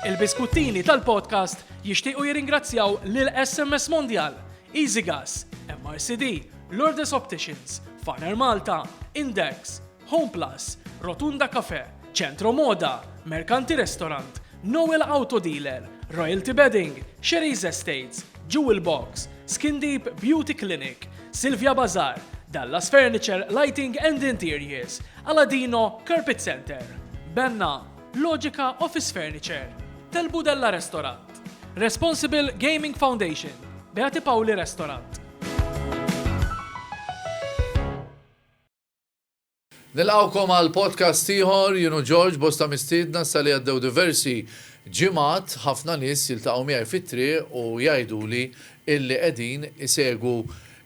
Il-biskuttini tal-podcast jixtiequ jirringrazzjaw lil SMS Mondial, EasyGas, MRCD, Lourdes Opticians, Faner Malta, Index, Home Plus, Rotunda Cafe, Centro Moda, Mercanti Restaurant, Noel Auto Dealer, Royalty Bedding, Sherry's Estates, Jewel Box, Skin Deep Beauty Clinic, Silvia Bazar, Dallas Furniture Lighting and Interiors, Aladino Carpet Center, Benna, Logica Office Furniture, Tel Budella Restaurant, Responsible Gaming Foundation, Beati Pauli Restaurant. Nilqawkom għal podcast ieħor jienu George bosta mistiedna sa li għaddew diversi ġimgħat ħafna nies jiltaqgħu miegħi fit-triq u jgħiduli illi qegħdin isegu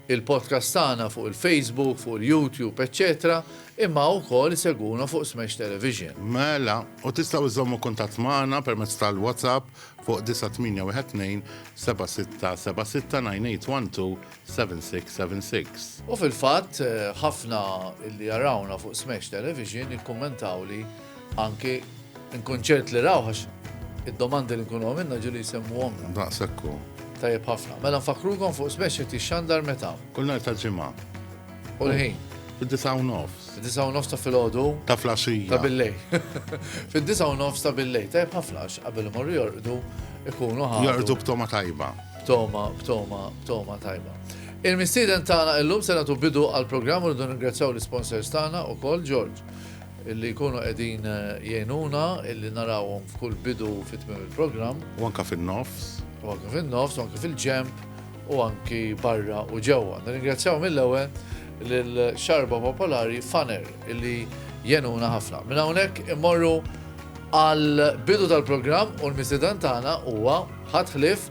il-podcast tagħna fuq il-Facebook, fuq il-YouTube, eċċetera imma wkoll isegwuna fuq Smash Television. Mela, u tistgħu żżommu kuntatt magħna permezz tal-WhatsApp fuq 9812 7676 9812 7676. U fil-fatt, ħafna li jarawna fuq Smash Television ikkummentawli Anki nkun ċert li rawh għax id-domandi li nkunu għamilna ġieli jsemmuhom. Daqshekk hu. Tajjeb ħafna. Mela nfakkrukom fuq smash qed jixxandar meta? Kull nhar tal-ġimgħa. U l-ħin? Fid-disa' u nofs. Fid-disa' u nofs ta' filgħodu? Ta' flaxija. Ta' billej. Fid-disa' u nofs ta' billej. Tajb ħafna għax qabel imorru jorqdu ikunu ħafna. Jorqdu b'toma tajba. B'toma, b'toma, b'toma tajba. Il-mistieden tagħna illum se nagħtu bidu għall-programm u rridu ningrazzjaw l-isponsors tagħna wkoll George. Li jkunu qegħdin jgħinuna illi narawhom f'kull bidu u fi tmiem il-programm. U anke fin-nofs. U anke fin-nofs, u anke fil-ġenb, u anke barra u ġewwa. Nirringrazzjaw mill-ewwel lil Xarba Popolari Faner illi jgħinuna ħafna. Minn hawnhekk immorru għall-bidu tal-programm u l-mistieden tagħna huwa ħadd ħlief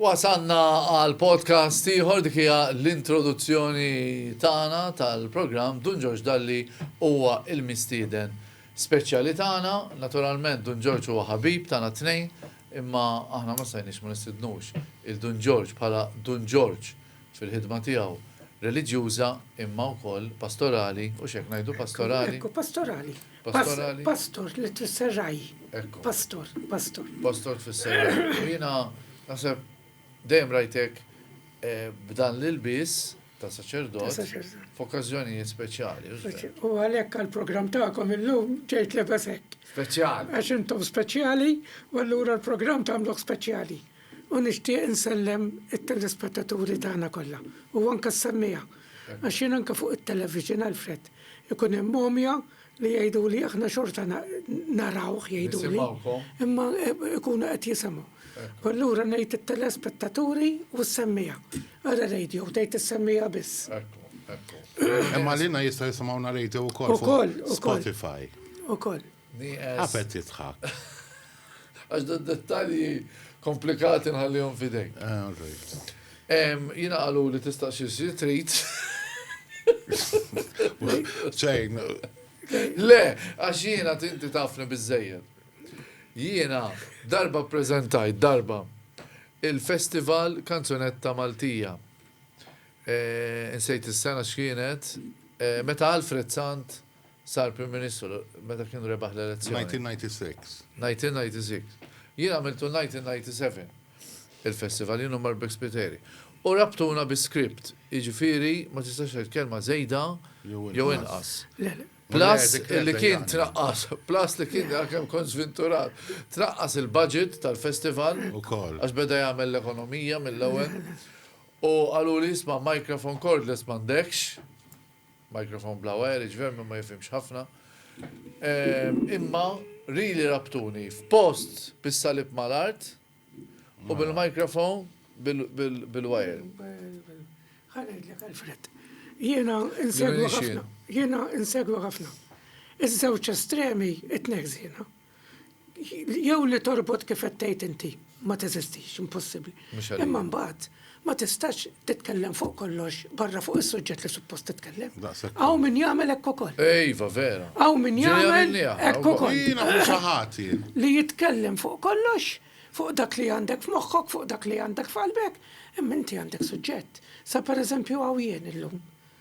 Wasalna għal podcast ieħor dik hija l-introduzzjoni tagħna tal-programm Dun Ġorġ Dalli huwa l-mistieden speċjali tagħna. Naturalment Dun Ġorġ huwa ħabib tagħna t-tnejn, imma aħna ma stajniex ma nistidnux il-Dun Ġorġ bħala Dun Ġorġ fil-ħidma tiegħu reliġjuża imma wkoll pastorali u x'hekk ngħidu pastorali. Ekku pastorali. Pastorali? Pastor, li tfisser raj. Ekku. Pastor, pastor. Pastor tfisser raj. U jina, nasib, dejjem rajtek eh, b'dan l-ilbis ta' saċerdot saċerdot. f'okkażjonijiet speċjali. u żver. U għalhekk għall-programm tagħkom illum ġejt lebes hekk. Speċjali. Għax intom speċjali u allura l-programm tagħmluh speċjali. U nixtieq insellem it-telespettaturi tagħna kollha, u anke s-semmiegħa, għax jien anke fuq it-television, Alfred, ikun hemm mhomja li jgħiduli aħna xorta narawh jgħiduli, imma ikunu qed jisimgħu. U allura ngħid it-telespettaturi u s-semmiegħa. Ara radio tgħid is-semmiegħa biss. Imma lilna jista' jisimgħuna radio wkoll fuq Spotify. Ukoll, ukoll. Għafet titħak. Għax da dettalji komplikati nħallihom fidejk. Eh, jina għalu li tistaqsi si trit. ċejn. Le, għax jina tinti tafni bizzejed. Jiena darba prezentajt darba il-festival kanzunetta Maltija. Eh, insejt is-sena x'kienet, eh, meta Alfred Sant Sar Prim Ministru meta kien rebaħ l-elezzjoni. 1996. 1996. Jien għamiltu 1997 il-festival, jien u Marbek Spiteri. U rabtuna bi script, jiġifieri ma tistax tgħid kelma żejda jew inqas. Plus li kien traqqas, plus li kien għalkemm kont żvinturat, traqqas il-budget tal-festival għax beda jagħmel l-ekonomija mill-ewwel. U qaluli isma' microphone cordless m'għandekx. Microphone bla wire iġver min ma jifhimx ħafna. Imma really rabtuni f'post bis-salib mal-art u bil-microphone bil-wire. Ħa ngħidlek Alfred. Jiena insegwu ħafna. Jiena insegwu ħafna. Iż-żewġ estremi it-tnejn ħżiena. Jew li torbot kif qed tgħid inti ma teżistix, impossibbli. Imma mbagħad ma tistax titkellem fuq kollox barra fuq is-suġġett li suppost titkellem. Aw min jagħmel hekk ukoll. Ejva, vera. Aw min jagħmel hekk ukoll. Jiena mhux ħati. Li jitkellem fuq kollox, fuq dak li għandek f'moħħok, fuq dak li għandek f'qalbek, imma inti għandek suġġett. Sa pereżempju hawn jien illum.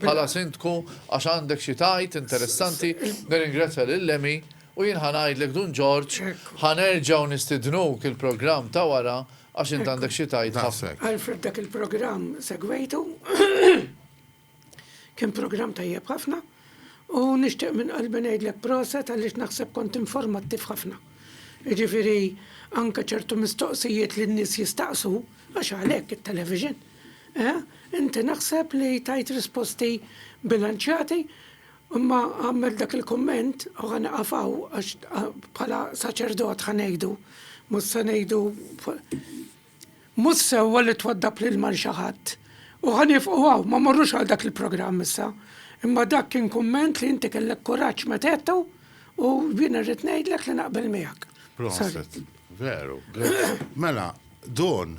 bħala Sindku għax għandek xi tgħid interessanti, nirringrazzja lil Lemmy u jien ħa ngħidlek Dun Ġorġ ħa nerġgħu nistidnuk il-programm ta' wara għax int għandek xi tgħid ħafna. Alfred dak il-programm segwejtu kien programm tajjeb ħafna u nixtieq minn qalbi ngħidlek proset għaliex naħseb kont informattiv ħafna. Jiġifieri anke ċertu mistoqsijiet li n-nies jistaqsu għax għalhekk it-television. Eh, inti naħseb li tajt risposti bilanċjati, imma għamilt dak il-kumment u ħa nieqaf hawn għax bħala saċerdot ħa ngħidu, mhux se ngħidu mhux sewwa li twaddab l-ilma lil xi ħadd. U ħa nifqu hawn, ma morrux għal dak il-programm issa. Imma dak kien kumment li inti kellek kuraġġ meta għedtu u jiena rrid ngħidlek li naqbel miegħek. Proset, veru. Mela, Don,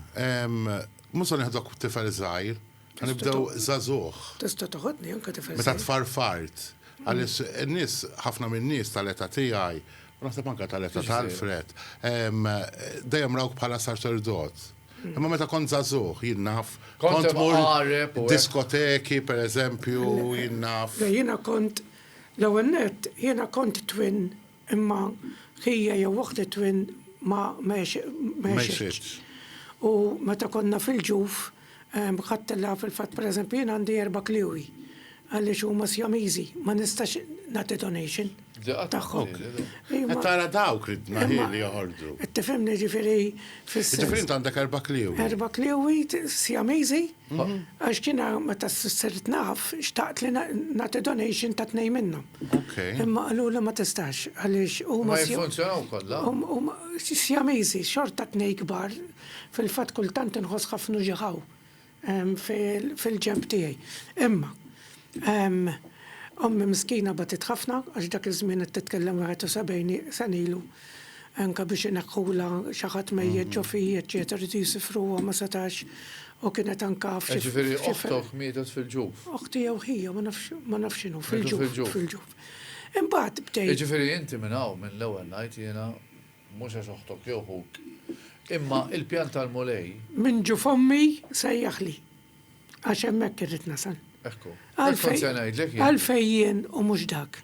Mhux se nieħdok tifel żgħir, ħa nibdew żagħżugħ. Tista' toħodni anke tifel żgħir. Meta tfarfart, għaliex in-nies, ħafna min-nies tal-età tiegħi, u naħseb anke tal-età ta' Alfred, dejjem rawk bħala saċerdot. Imma meta kont żagħżugħ, jien naf, kont tmur diskoteki, pereżempju, jien naf. Le jiena kont, l-ewwel nett, jiena kont twin. Imma ħija jew uħt it-twin ma għexitx. U meta konna fil-ġuf, ħadtilha fil-fatt pereżempju jien għandi erba' kliewi għaliex huma Sjamiżi, ma nistax nagħti donation tagħhom. Qed tara dawk li tnaħħieli joħorġu. Tifhimni ġifieri fis-. Ġifieri int għandek erba' kliewi. Erba' kliewi Sjamiżi. Għax kien meta sirt naf, xtaqt li nagħti donation ta' tnej minnhom. Imma qalu li ma tistax għaliex u ma jiffunzjonaw kollha. Sjamiżi, xorta tnej kbar, fil-fatt kultant inħoss ħafna ġiħaw fil-ġenb tiegħi. Imma Ommi miskina batiet ħafna għax dak iż-żmien qed titkellem 71 sena ilu. Anke biex ineħħulha xi ħadd mejjet ġo fi, eċċetera, riedu jisifruha ma setax u kienet anke f'xi. Jiġifieri oħtok mietet fil-ġuf? Oħti jew ħija ma nafx ma nafx x'inhu fil-ġuf. Fil-ġuf. Imbagħad bdejt. Jiġifieri inti minn hawn minn l-ewwel ngħid jiena mhux għax oħtok jew ħuk imma l-pjan tal-Mulej. Minn ġuf ommi sejjaħli. Għax hemmhekk irrid nasal. Ekku. Għalfej jien u mhux dak.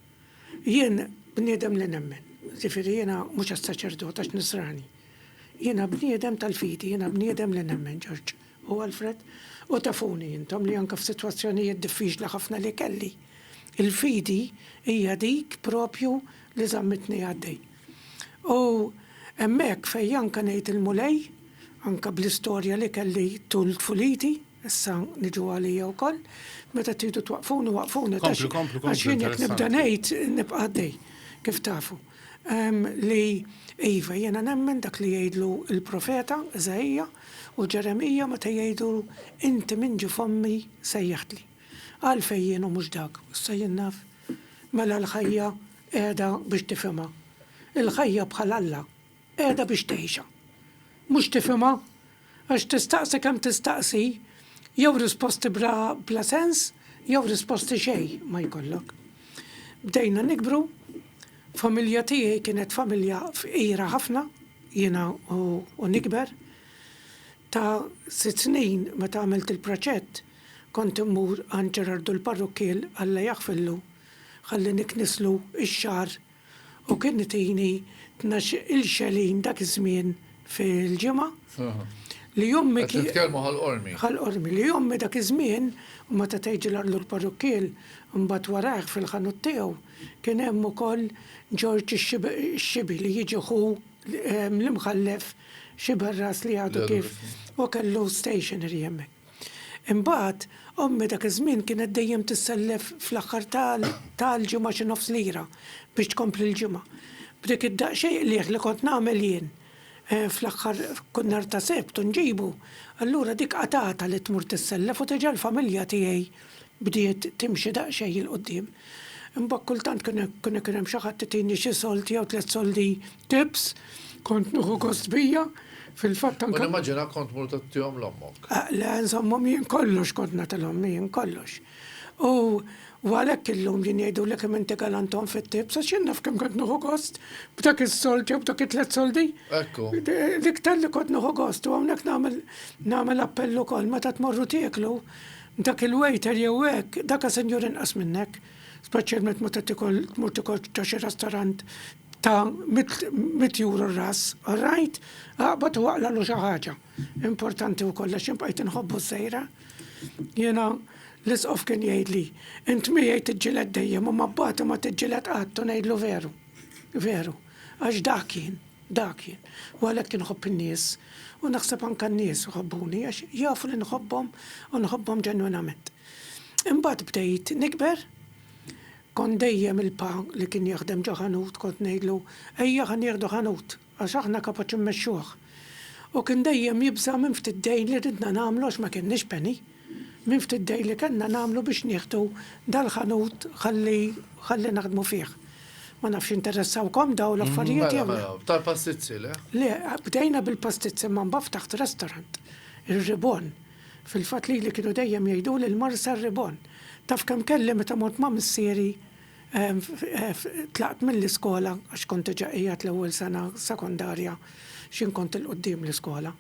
Jien bniedem li nemmen. Ġifieri jiena mhux għas-saċerdot għax nisrani. Jiena bniedem tal-fidi, jiena bniedem li nemmen Ġorġ u Alfred. U tafuni intom li anke f'sitwazzjonijiet diffiċli ħafna li kelli. Il-fidi hija dik propju li żammitni għaddej. U hemmhekk fejn anke ngħid il-Mulej, anke bl-istorja li kelli tul tfuliti, issa niġu għalija wkoll, meta tridu twaqqfuni waqqfuni. Kompli, kompli, kompli. Għax jien jekk nibda ngħid nibqa' għaddej, kif tafu. Li iva jiena nemmen dak li jgħidlu l-profeta Iżaija u Ġeremija meta jgħidu inti min ġie f'ommi sejjaħtli. Għalfejn jien u mhux dak? Issa jien naf. Mela l-ħajja Qiegħda biex tifhimha. Il-ħajja bħal Alla, qiegħda biex tgħixha. Mhux tifhimha? Għax tistaqsi kemm tistaqsi, jew risposti bla bla sens, jew risposti xejn ma jkollok. Bdejna nikbru, familja tiegħi kienet familja fqira ħafna, jiena u u nikber. Ta' sitt snin meta għamilt il-proċett, kont immur għand Ġerardu l-parrukkiel, Alla jaħfirlu, Ħalli niknislu x-xagħar u kien itini tnax il-xelin dak iż-żmien fil-ġimgħa. Li ommi. Qed nitkellmu ħal qormi. Ħal qormi. Li ommi dak iż-żmien u meta tgħid ġilar lur parrukkiel u mbagħad warajh fil-ħanut tiegħu kien hemm ukoll Ġorġ ix-Xibi li jiġi ħu l-Imħallef Xiberras li għadu kif u kellu stationery hemmhekk. Imbagħad, ommi dak iż-żmien kienet dejjem tissellef fl-aħħar ta' l-ġimgħa xi nofs lira biex tkompli l-ġimgħa. B'dik id-daqsxejn qligħ li kont nagħmel jien, fl-aħħar kull nhar ta' Sebt u nġibu, allura dik qatgħatha li tmur tissellef u teġa' l-familja tiegħi bdiet timxi daqsxejn 'il quddiem. Imbagħad kultant kien ikun hemm xi ħadd itini xi sold jew tliet soldi Tips, Kont nieħu gost bija, fil-fatt anke. U nimmaġina kont tmur tgħottihom 'l ommok. Le, nżommhom jien, kollox kont nagħtilhom jien, kollox. U u għalhekk illum jien jgħiduli kemm inti galant omm fit-tips, għax jien naf kemm kont nieħu gost b'dak is-sold jew b'dak it-tliet soldi. Ekku. L-iktar li kont nieħu gost u hawnhekk nagħmel nagħmel appell ukoll meta tmorru tieklu, dak il-waiter jew hekk, daka sinjur inqas minnek, speċjalment meta tikol tmur tikol ġo xi restorant, ta' mitt juru r-ras, rajt, qabad u aqlalu xi ħaġa. Importanti wkoll għax jien bqajt inħobbu s-sejra. Jiena l-Isqof kien jgħidli, int miegħi tiġġieled dejjem imma b'Bati ma tiġġieled qatt u ngħidlu veru. Veru. Għax dak jien. Dak jien. U għalhekk inħobb in-nies u naħseb anke n-nies iħobbuni għax jafu li nħobbhom u nħobbhom ġenwinament. Imbagħad bdejt nikber, Kont dejjem il-pa li kien jaħdem ġo ħanut kont ngħidlu, Ejja ħa nieħdu ħanut, għax aħna kapaċi mmexxuh. U kien dejjem jibża' minn ftit dejn li ridna nagħmlu għax ma kienniex penny. Minn ftit dejn li kellna nagħmlu biex nieħdu dal-ħanut ħalli ħalli naħdmu fih. Ma nafx jinteressawkom dawn l-affarijiet jew le. Mela, mela, tal-pastizzi, le? Le, bdejna bil-pastizzi imma mbagħad ftaħt restaurant, ir-Ribon. Fil-fatt lili kienu dejjem jgħiduli l-mar sar ribon. Taf kemm kelli meta mort ma' missieri tlaqt mill-iskola għax kont diġa qiegħed l-ewwel sena sekondarja x'jien kont 'il quddiem l-iskola,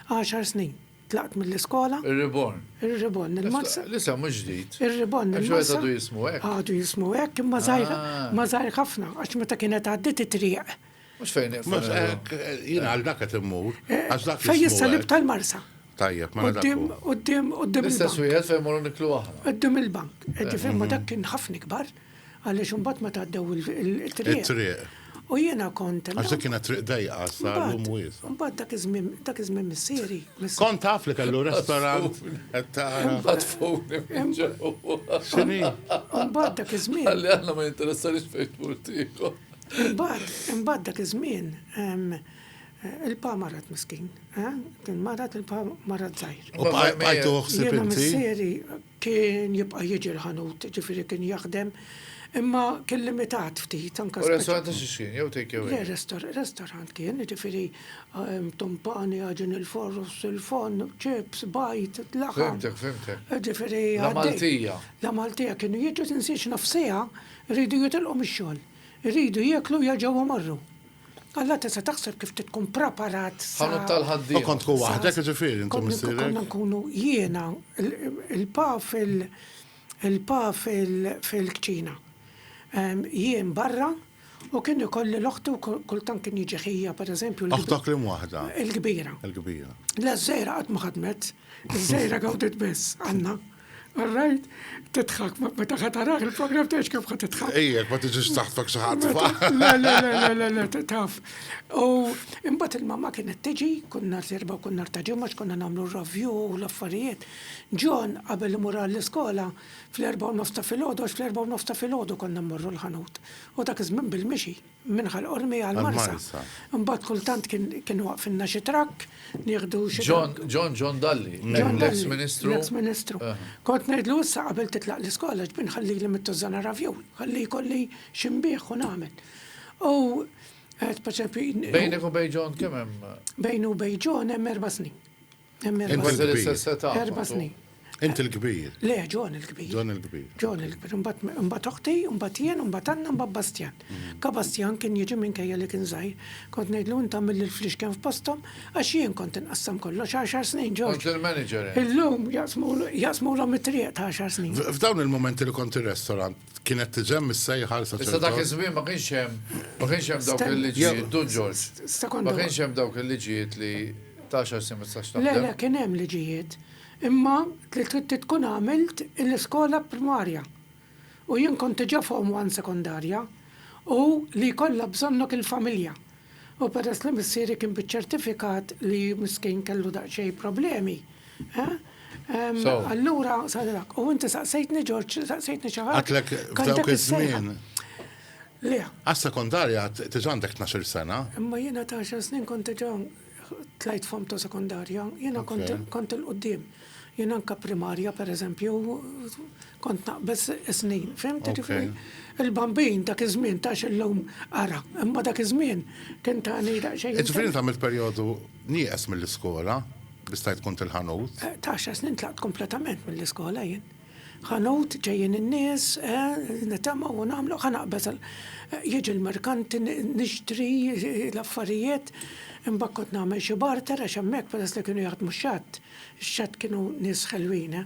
għaxar snin tlaqt mill-iskola. Ir-ribon. Ir-ribon. Il-mar sar. L-isem mhux ġdid. Ir-ribon. Għax wieħed għadu jismu hekk. Għadu jismu hekk imma żgħir ħafna għax meta kienet għaddiet it-triq Mux fejn Mux ek, jina għal dak qed immur. Għax dak Fejn jissalib tal-marsa. Tajjeb, ma Uddim, uddim, uddim. L-istess wieħed fejn morru niklu aħna. Uddim il-bank. Eddi fejn ma dak kien ħafna kbar, għaliex imbagħad ma tgħaddew il-triq. Il-triq. U jiena kont. Għax dik kienet triq dejqa, sa l-lum wiesa. Mbagħad dak iż-żmien, dak iż-żmien missieri. Kont taf li kellu restaurant. Mbagħad fuq. Xini? Mbagħad dak iż-żmien. Għalli għandna ma jinteressarix fejn tmur tieħu. Imbagħad, imbagħad dak iż-żmien il-pa marat miskin, eh? kien marat il-pa marat żgħir. U bqajtu ħsib inti? Missieri kien jibqa' jiġi l-ħanut, ġifieri kien jaħdem, imma kien limitat ftit anke. U restorant ta' xixin, jew take away? Le, restorant kien, ġifieri tumpani, għaġin il-forus, il-fon, ċips, bajt, laħam. Fimtek, fimtek. Ġifieri. La Maltija. La Maltija kienu jiġu tinsiex nofsija Iridu jitilqu mix-xogħol. Iridu jieklu u jerġgħu jmorru. Alla tista' taħseb kif trid tkun praparat sa. Ħanut tal-ħaddiema. U kont tkun waħdek jiġifieri int u missierek? Konna nkunu jiena, il-pa fil, il-pa fil, fil-kċina. Jien barra u kien ikolli l-oħti u kultant kien jiġi ħija pereżempju. Oħtok liema waħda? Il-kbira. Il-kbira. Le ż-żgħira qatt ma ħadmet. Iż-żgħira gawdiet biss, Anna. All right, titħak, meta ħataraħ il-program tgħix kif ħat titħak. Ejjek, ma tiġix taħtfak xi ħadd. Le, le, le, le, le, taf. U imbagħad il-mamma kienet tiġi, kun nhar serba u kun nhar ta' ġimgħa x'konna nagħmlu r-ravju u l-affarijiet. John qabel imur għall-iskola fl-erba' u nofs ta' filgħodu għax fl-erba' u nofs ta' filgħodu konna mmorru l-ħanut. U dak iż-żmien bil-mixi. minn Ħal Qormi għal Marsa. Imbagħad kultant kien waqfilna xi trakk nieħdu xi. John, John, John Dalli, l-eks Ministru. L-eks Ministru. Kont ngħidlu issa qabel titlaq l-iskola ġbin ħallili mit-tużżana ravjun, ħalli jkolli xi nbigħ u nagħmel. U qed pereżempju. Bejnek u bejn John kemm hemm? Bejn u bejn John hemm erba' snin. Int kważi l-istess età. Erba' snin. Int il-kbir. Le, John il-kbir. John il-kbir. John il-kbir. Imbagħad oħti, imbagħad jien, imbagħad Anna, imbagħad Bastjan. Ka Bastjan kien jiġi minkejja li kien żgħir. Kont ngħidlu int għamil lil fliexken f'posthom għax jien kont inqassam kollox għaxar snin, George. Kont il-manager int. Illum jaqsmulhom it-triq ta' għaxar snin. F'dawn il-mumenti li kont ir-restorant, Kienet tiġem is-sejħa l Issa dak iż-żmien ma kienx hemm ma kienx hemm dawk il-liġijiet, Dun Ġorġ. Ma kienx hemm dawk il-liġijiet li ta' għaxar snin ma tistax taħdem. Le, le, kien hemm liġijiet. Imma li trid tkun għamilt l-iskola primarja. U jien kont diġà form one sekondarja u li jkollha bżonnok il-familja. U peress li missieri kien biċ-ċertifikat li miskin kellu daqsxejn problemi, allura sarilek. U inti saqsejtni Ġorġ, saqsejtni xi ħaġa. Għidtlek f'dawk iż-żmien. Le. Għas-sekondarja diġà għandek tnax-il sena. Imma jiena ta' għaxar snin kont diġà tlajt f'hom ta' sekondarja, jiena kont il-quddiem. Jien anka primarja per eżempju, kont naqbeż snin, fimti ġifiri. Il-bambin dak iż-żmien ta' illum ara, imma dak iż-żmien kien ta' nida xejn. Ġifiri ta' mill-perjodu nieqes mill-iskola, bistajt kont il-ħanut. Eh, ta' xa snin tlaqt kompletament mill-iskola jien. Ħanut ġejjin in-nies, eh, nitama u namlu, ħanaqbeż eh, jieġi l-merkanti nixtri l-affarijiet, imbagħad kont nagħmel xi barter għax hemmhekk peress li kienu jaħdmu xatt. X'għad kienu nies ħelwin, eh!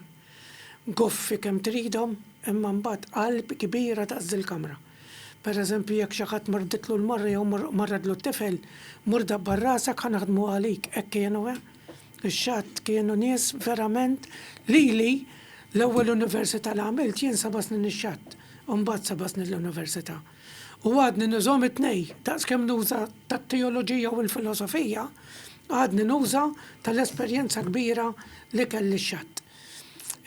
Goffi kemm tridhom, imma mbagħad qalb kbira daqs dil-kamra. Per eżempju, jekk xi ħadd marditlu l-mara jew marredlu t-tifel, mur dabbar rasek ħa naħdmu għalik, hekk kienu, eh! Ix-X'għad kienu nies verament, lili, l-ewwel università li għamilt jien seba' snin ix-X'għad, u mbagħad seba' snin l-università. U għadni nużahom it-tnejn, daqs kemm nuża tat-teoloġija u l-filosofija, għadni nuża tal-esperjenza kbira li kelli x-xatt.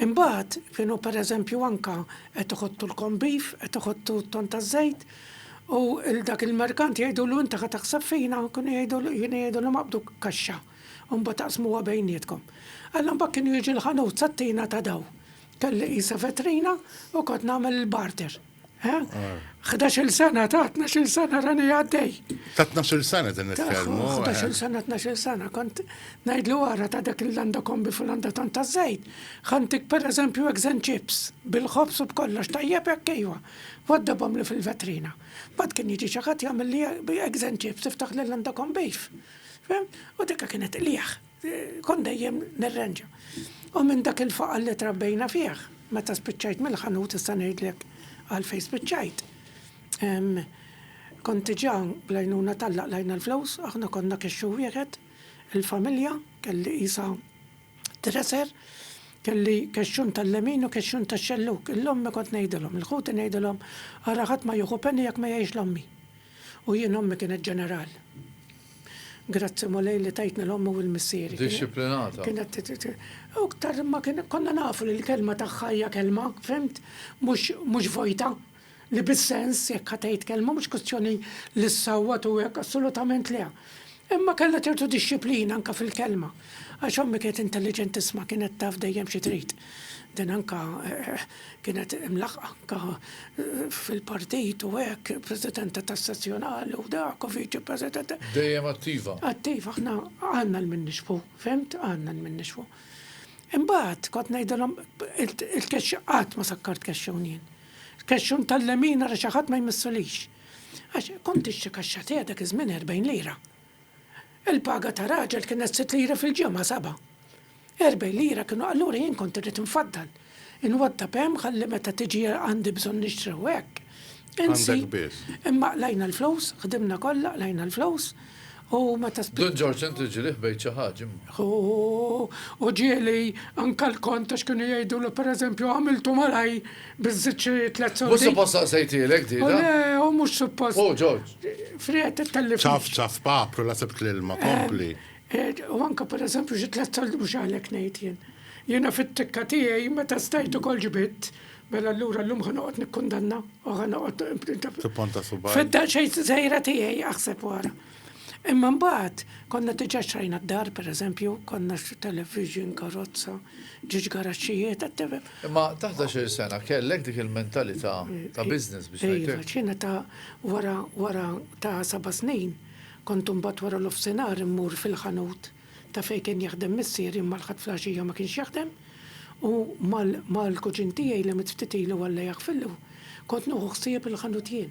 Imbagħad kienu pereżempju anke qed iħottu l-corned beef, qed iħottu t-tonn taż-żejt, u 'l dak il-merkant jgħidulu inti ħa taħseb fina, kienu jgħidulu, kienu jgħidulhom aqbdu kaxxa, u mbagħad aqsmuha bejnietkom. Alla mbagħad kienu jiġi l-ħanut sat-tina ta' dawl. Kelli qisha vetrina u kont nagħmel il-barter. 11 sena, ta' 12 sena rani għaddej. Ta' 12 sena din nitkellmu. 11 eh. sena, 12 sena, kont najd li wara ta' dak il-landa kombi fil-landa tant ta' zejt, ħantik per eżempju egzen chips, bil-ħobs u b'kollox tajjeb jekk kejwa, waddabhom li fil-vetrina. Bad kien jiġi ċakat jagħmel li egzen chips tiftaħ l-landa kombi. U dikka kienet liħ. Kont dejjem nirranġa. U minn dak il-faqal li trabbejna fih, meta spiċċajt mill-ħanut issa ngħidlek għalfejn spiċċajt. Kont diġà bl-għajnuna t'Alla qlajna l-flus, aħna konna kixxu wieħed, il-familja, kelli qisha treser, kelli kexxun tal-lemin u kexxun tax-xellug. Lill-ommi kont ngħidilhom, lill-ħuti ngħidilhom, ara ħadd ma jieħu penny jekk ma jgħix l-ommi. U jien ommi kienet ġeneral. Grazzi Mulej li tajtni l-ommi u l-missieri. Dixxiplinata. Kienet iktar ma kien konna nafu li l-kelma tagħha hija kelma, fhimt? Mhux mhux vojta. Li bis-sens jekk ħatgħid kelma mhux kwistjoni li ssawwat u hekk assolutament le. Imma kellha ċertu dixxiplina anke fil-kelma. Għax ommi kienet intelliġentissma kienet taf dejjem xi trid. Din anke kienet imlaħħqa anke fil-partit u hekk, Presidenta tas-Sezzjonali u dak u Viċi President. Dejjem attiva. Attiva, aħna għandna l-min nixbhu, fhimt? Għandna l-min nixbhu. Imbagħad kont ngħidilhom il-kexx qatt ma sakkart kexxun jien. Kexxun tal-lemin ara xi ħadd ma jmissulix. Għax kont tixtri kaxxa te dak iż-żmien 40 lira. Il-paga ta' raġel kienet sitt lire fil-ġimgħa, seba'. Erbgħin lira kienu allura jien kont irrid infaddal, inwaddab hemm ħalli meta tiġi għandi bżonn nixtri u hekk. Insi. Għandek biss. Imma qlajna l-flus, ħdimna kollha, qlajna l-flus u meta spiċċa. Dun Ġorġ int li ġielih bgħidt xi ħaġa imma. Hu, u ġieli anke l-kont għax kienu jgħidulu pereżempju għamiltu malajr Bizzit xi tlet sordi. Mhux suppost saqsejtielek di. Oh, le, u oh, mhux suppost. Oh, George. Friet tellif. Ċaf ċaf papru la sebt l-ilma, eh, kompli. Eh, u anka per eżempju xi tlet soldi mhux għalhekk ngħid jien. Jiena fit-tikka tiegħi meta stajt ukoll ġibitt, mela allura llum ħa noqgħod nikkundanna u ħa noqgħod. Tipponta subaj. Fid-daċejn żejra tiegħi aħseb wara. Imma mbagħad konna diġà xtrajna d-dar, pereżempju, konna xi television, karozza, ġiex garaxxijiet, qed tifhem. Imma taħt għaxar sena kellek dik il-mentalità ta' business biex ngħidlek. Iva, x'jiena ta' wara wara ta' seba' snin kont imbagħad wara nofsinhar immur fil-ħanut ta' fejn kien jaħdem missieri imma l-Ħadd fl-għaxija ma kienx jaħdem u mal-kuġin tiegħi li miet ftit ilu Alla jaħfirlu kont nieħu ħsieb il-ħanut jien.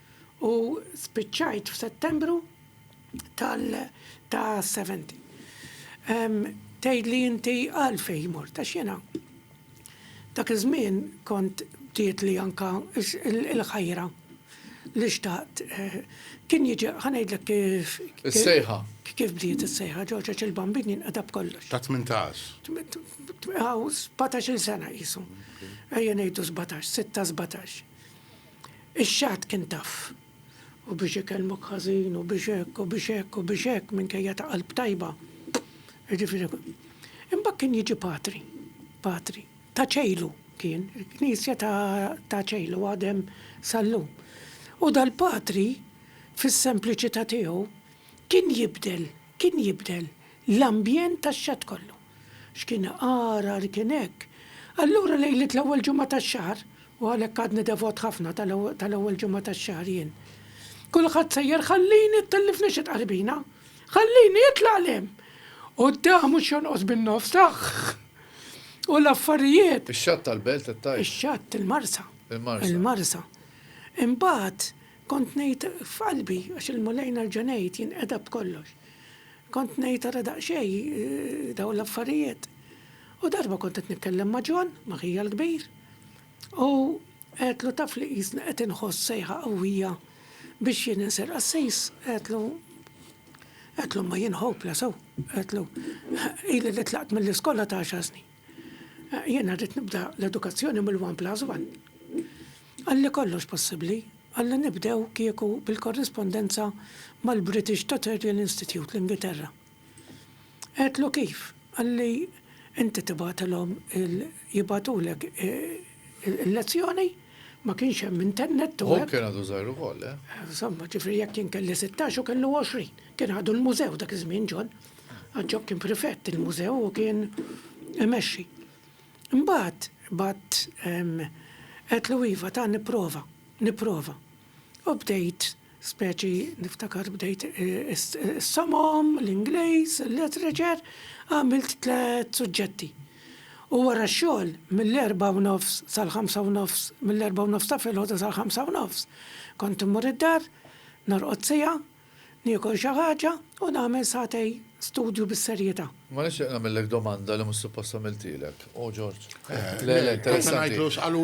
u spiċċajt f'Settembru tal ta' 70. Ehm, tgħidli inti għalfejn mort għax jiena dak iż-żmien kont bdiet li anka il-ħajra li xtaqt eh, kien jiġi ħanejdlek kif. Is-sejħa. Kif bdiet is-sejħa, ġoġa il-bambin jinqadab kollox. Ta' 18. Għaw, 17 sena jisu. Ejja nejdu 17, 6 17. Ix-xagħat kien tough. U biex ikellmuk ħażin u biex hekk u biex hekk u biex hekk minkejja ta' qalb tajba. Jiġifieri Imbagħad kien jiġi patri. Patri. Ta' Ċejlu kien. Il-knisja ta' Ċejlu għadem sal-lum. U dal-patri fis-sempliċità tiegħu kien jibdel, kien jibdel l-ambjent tax-xatt kollu. X'kien għargħar kien hekk! Allura lejliet l-ewwel ġimgħa tax-xahar, u għalhekk għadni devot ħafna tal-ewwel ġimgħa tax-xahar jien. Kulħadd sejjer ħallini ttellifni xi tqarbina! Ħallini, itlaq 'l hemm! U d-daħq mhux jonqos bin-nofs, aħħ! U l-affarijiet. Ix-xatt tal-belt qed tgħid? Ix-xatt, il-marsa. Il-marsa. Il-marsa. Imbagħad Kont ngħid f'qalbi, għax il-Mulej nerġa' ngħid jinqeda b'kollox. Kont ngħid ara daqsxejn dawn l-affarijiet. U darba kont qed nitkellem ma' John, ma' ħija l-kbir, u għedtlu taf li qisni qed inħoss sejħa qawwija biex jien insir qassis, għedtlu, għedtlu imma jien hopeless hawn, għedtlu, ili li tlaqt mill-iskola ta' għaxar snin. Jiena rrid nibda l-edukazzjoni mill-one plus one. Qalli kollox possibbli, qalli nibdew kieku bil-korrispondenza mal-British Tutorial Institute, l-Ingilterra. Għedtlu kif, qalli inti tibgħatilhom il jibgħatulek il-lezzjoni, ma kienx hemm internet u hekk. Hu kien għadu żgħir ukoll, le? Insomma, ġifieri jekk jien kelli sittax hu kellu għoxrin. Kien għadu l-mużew dak iż-żmien John, għax John kien prefett il-mużew u kien imexxi. Imbagħad bgħadt għedtlu iva ta' nipprova, nipprova. U bdejt speċi niftakar bdejt is-somom, l-Ingliż, il-Literature, għamilt tliet suġġetti. U wara x-xogħol mill-erbgħa u nofs sal-ħamsa u nofs, mill-erbgħa u nofs ta' filgħodu sal-ħamsa u nofs, kont immur id-dar, norqod siegħa, Niekol xi ħaġa u nagħmel sagħtej studju bis-serjetà. Imma nixtieq nagħmillek domanda li mhux suppost għamiltilek. O George. Le, le, interessanti.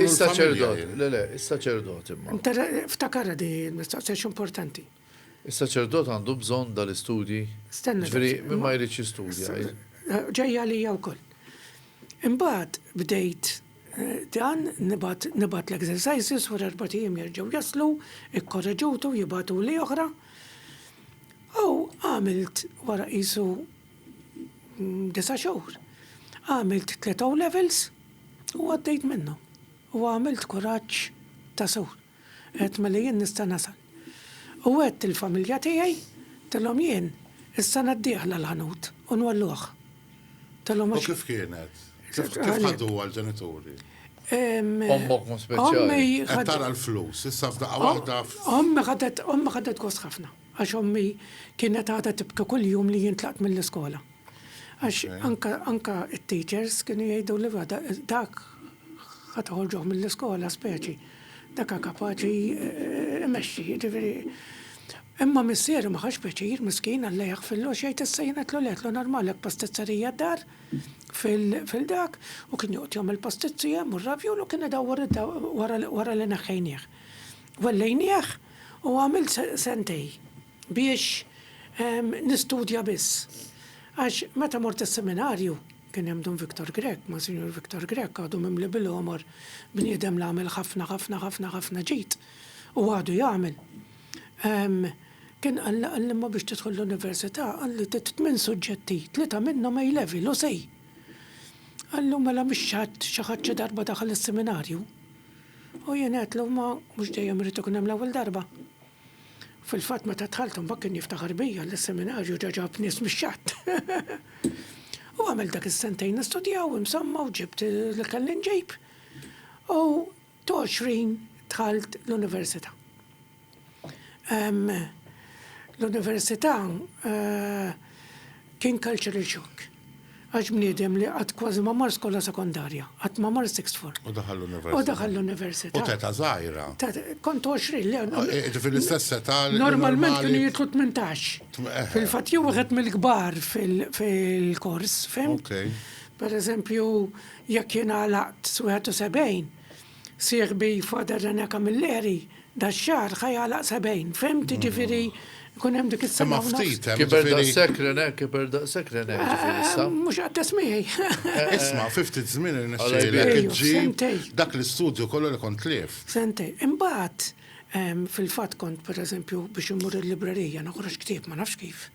Is-saċerdot, le, le, is-saċerdot imma. Ftakarha di l-mistoqsija għax importanti. Is-saċerdot għandu bżonn dal-istudji? Stenna. Ġifieri min ma jridx jistudja. Ġejja għalija wkoll. Imbagħad bdejt dan, nibgħat nibgħat l-exercises, wara erbat ijiem jerġgħu jaslu, ikkoreġuti u jibgħatuli oħra. U għamilt wara qisu disa' xhur, għamilt tliet O-Levels u għaddejt minnhom. U għamilt kuraġġ ta' sur. Għedt mela jien nista' nasal. U għedt il-familja tiegħi, għedtilhom jien is-sena d-dieħla l-ħanut u nwellugħ. Għedtilhom għax. U kif kienet? Kif ħaduha l-ġenituri? Ommok mod speċjali. Qed tara l-flus, issa f'daqqa waħda. Ommi ħadet, ommi ħadet gost ħafna. Għax ommi kienet għadha tibki kull jum li jien tlaqt mill-iskola. Għax anka anka t-teachers kienu jgħiduli va dak ħa toħorġuh mill-iskola speċi. Dak hu kapaċi imexxi, jiġifieri. Imma missieri ma ħax pjaċir, miskin, Alla jaħfirlu, x'jgħid issa jien għedtlu le, għedtlu normali hekk pastizzerija d-dar fil-dak u kien joqgħod jagħmel pastizzi hemm u r-ravjol u kien idawwar wara li neħħejnieh. Wellejnieh u għamilt sentej biex nistudja biss. Għax meta mort is-seminarju, kien hemm Dun Victor Grech, Monsinjur Victor Grech għadu mimli bil-għomor, bniedem li għamel ħafna ħafna ħafna ħafna ġid u għadu jagħmel. Kien qalli qalli imma biex tidħol l-università qalli trid tmien suġġetti, tlieta minnhom A Level u Sej. Qalli u mela mhix xi ħadd xi ħadd xi darba daħal is-seminarju? U jien għedtlu, Ma mhux dejjem irrid ikun hemm l-ewwel darba. Fil-fatt meta dħalt imbagħad kien jiftaħar bija li s-seminarju ġa ġab nies mix-xatt. U għamilt dak is-sentejn nistudjaw imsamma u ġibt li kelli nġib. U t'għoxrin dħalt l-università. L-università kien cultural shock. Għax bniedem li qatt kważi ma mar skola sekondarja, qatt ma mar sixth form. U daħal l-università. U daħal l-università. U t'età żgħira. Kont 20 li. Ġifieri l-istess età. Normalment kienu jidħlu 18. Fil-fatt jew wieħed mill-kbar fil-kors, fimt? Pereżempju, jekk jien għalaqt 71, Sieħbi Father René Camilleri dax-xahar ħa jagħlaq 70, fhimt, jiġifieri jkun hemm dik is-sena u nofs. Kiber daqshekk René, kiber daqshekk René jiġifieri issa? Mhux qatt tesmiegħi. Isma', fi ftit żmien irnexxielek iġġib dak l-istudju kollu li kont tlift. Sentejn. Imbagħad fil-fatt kont pereżempju biex immur il-librerija noħroġ ktieb ma nafx kif.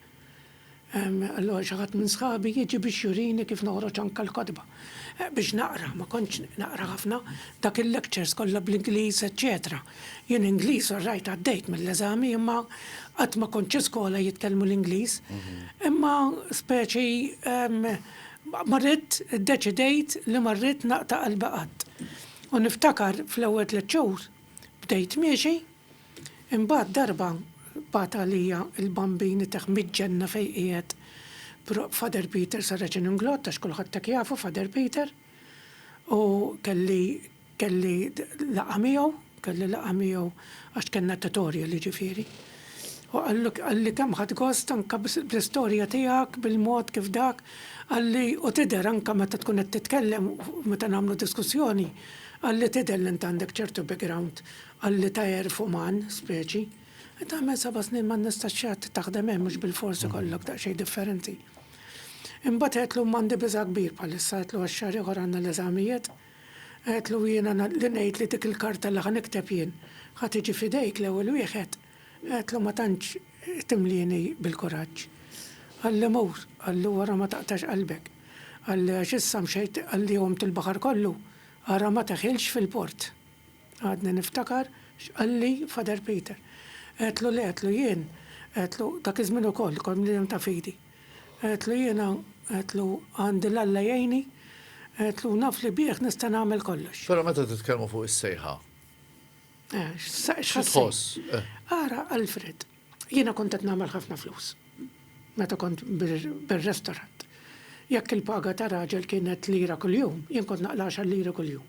Allura xi ħadd minn sħabi jiġi biex jurini kif noħroġ anke l-kotba. Biex naqra, ma kontx naqra ħafna, dak il-lectures kollha bl-Ingliż eċċetera. Jien Ingliż all right għaddejt mill-eżami imma qatt ma kont xi skola jitkellmu l-Ingliż. Imma speċi ma ridt, iddeċidejt li ma rrid naqta' qalbi qatt. U niftakar fl-ewwel tliet xhur bdejt miexi, Imbagħad darba bagħat għalija l-Bambin itah miġ-ġenna fejn qiegħed Father Peter Saracen Inglott għax kulħadd hekk jafu Father Peter u kelli kelli laqgħa miegħu kelli laqgħa miegħu għax kellna tutorial jiġifieri. U qallu qalli kemm ħadt gost anke bl-istorja tiegħek bil-mod kif dak qalli u tidher anke meta tkun qed titkellem meta nagħmlu diskussjoni qalli tidher li int għandek ċertu background Qalli tajher fuq man, speċi. Tagħmel seba' snin ma nistax xi ħadd taħdem hemm mhux bilfors ikollok daqsxejn differenti. Imbagħad għedtlu m'għandi biża' kbir bħalissa għedtlu għax xahar ieħor għandna l-eżamijiet. Għedtlu jiena li ngħid li dik il-karta li ħa nikteb jien ħa tiġi f'idejk l-ewwel wieħed, għedtlu ma tantx timlieni bil-kuraġġ. Qalli mur, qallu ara ma taqtax qalbek. Qalli għax issa mxejt qalli għumt il-baħar kollu, ara ma teħilx fil-port. Għadni niftakar x'qalli Father Peter. Għedtlu le, għedtlu jien, għedtlu dak iż-żmien ukoll kont bniedem ta' fidi. Għedtlu jiena, għedtlu għandi l-Alla jgħinni, għedtlu naf li bih nista' nagħmel kollox. Però meta titkellmu fuq is-sejħa. Xi tħoss? Ara Alfred, jiena kont qed nagħmel ħafna flus meta kont bir-restorant. Jekk il-paga ta' raġel kienet lira kuljum, jien kont naqla' għaxar liri kuljum.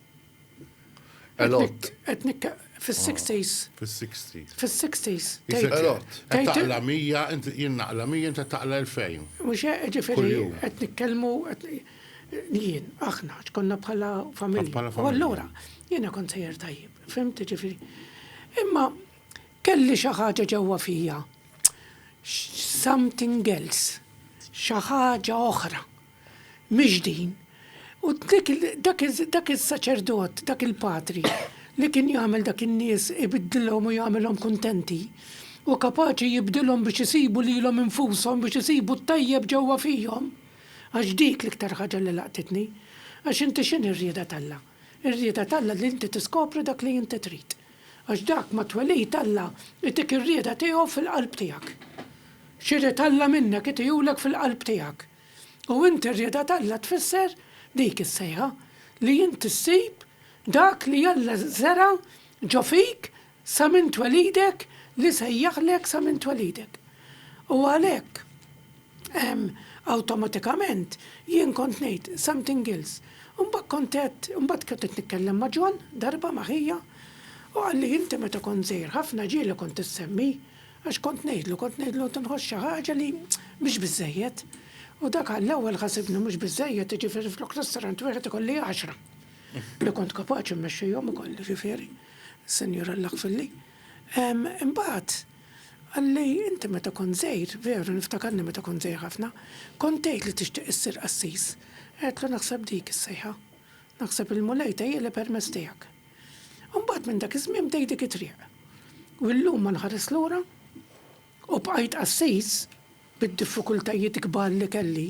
Elot. Etnik, fil-60s. Ah, fil-60s. Fil-60s. Elot. Taqla 100, jien naqla 100, inta taqla 2000. Mux ġifiri, etnik kelmu, jien, aħna, ċkonna bħala familja. U allura, jiena kon sejjer tajjeb, fimti ġifiri. Imma, kelli xaħġa ġewwa fija, something else, xaħġa oħra. miġdin, u dak is-saċerdot, dak il-patri li kien jagħmel dak in-nies ibiddilhom u jagħmilhom kuntenti, hu kapaċi jibdilhom biex isibu lilhom infushom, biex isibu t-tajjeb ġewwa fihom. Għax dik l-iktar ħaġa li laqtitni. Għax inti x'inhi r-rieda t'Alla? Ir-rieda t'Alla li inti tiskopri dak li inti trid. Għax dak ma twelid Alla itik ir-rieda tiegħu fil-qalb tiegħek. X'irid Alla minnek itihulek fil-qalb tiegħek. U inti r-rieda t'Alla tfisser dik is-sejħa, li inti ssib dak li Alla żera' ġo fik sa minn twelidek li sejjaħlek sa minn twelidek. U għalhekk ehm awtomatikament jien kont ngħid something else. U mbagħad kont qed, mbagħad kont qed nitkellem ma' John darba ma' ħija u qalli inti meta kont żgħir ħafna ġieli kont issemmi. Għax kont ngħidlu, kont ngħidlu qed inħoss xi ħaġa li mhix biżżejjed. U dak għall-ewwel ħasibni mhux biżżejjed, jiġifieri flok ristorant wieħed ikolli għaxra. Li kont kapaċi mmexxihom ukoll, jiġifieri, Sinjur Alla ħfirli. Imbagħad qalli inti meta kont żgħir, veru niftakarni meta kont żgħir ħafna, kont tgħid li tixtieq issir qassis. Għedtlu naħseb dik is-sejħa. Naħseb il-Mulej tgħejjeli permezz tiegħek. Imbagħad minn dak iż-żmien bdejt dik it-triq. U llum ma nħares lura u bqajt qassis bid-diffikultajiet kbar li kelli,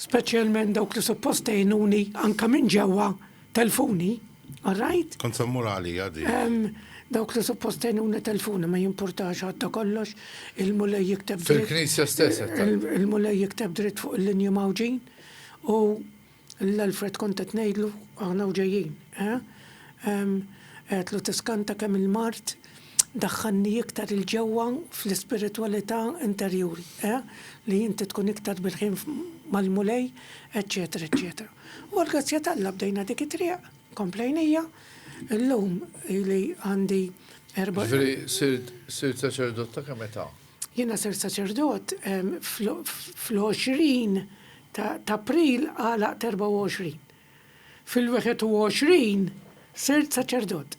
speċjalment dawk li suppost għenuni anke minn ġewwa telfuni, all right? Kont se mmur għalija din. Ehm, dawk li suppost għenuni telfuni ma jimpurtax għadda kollox, il-Mulej jikteb dritt. Fil-Knisja stess qed tgħid. Il-Mulej jikteb dritt fuq il-linji mgħawġin u Lil Alfred kont qed ngħidlu, aħna u ġejjin, eh? Ehm, għedtlu tiskanta kemm il-mard daħħalni iktar 'il ġewwa fl-ispiritwalità interjuri, eh? Li inti tkun iktar bil-ħin mal-Mulej, eċċetera, eċċetera. U għall-grazzja t'Alla bdejna dik it-triq, komplejn hija, illum ili għandi erba'. Ġifieri sirt saċerdot ta' kemm età? Jiena ser saċerdot fl-20 ta' April għalaq 24. Fil-21 sirt saċerdot.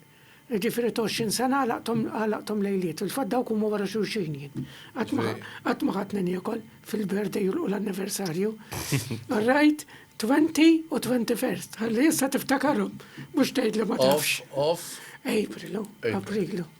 Ġifiri 20 sena għalaqtom lejliet. il fat dawk huma wara xulxin jien. Qatt ma ħadd niekol fil-birthday u l-anniversarju. Rajt 20 u 21st. Ħalli issa tiftakarhom mhux tgħidli ma tafx. Off, off. Aprilu, Aprilu.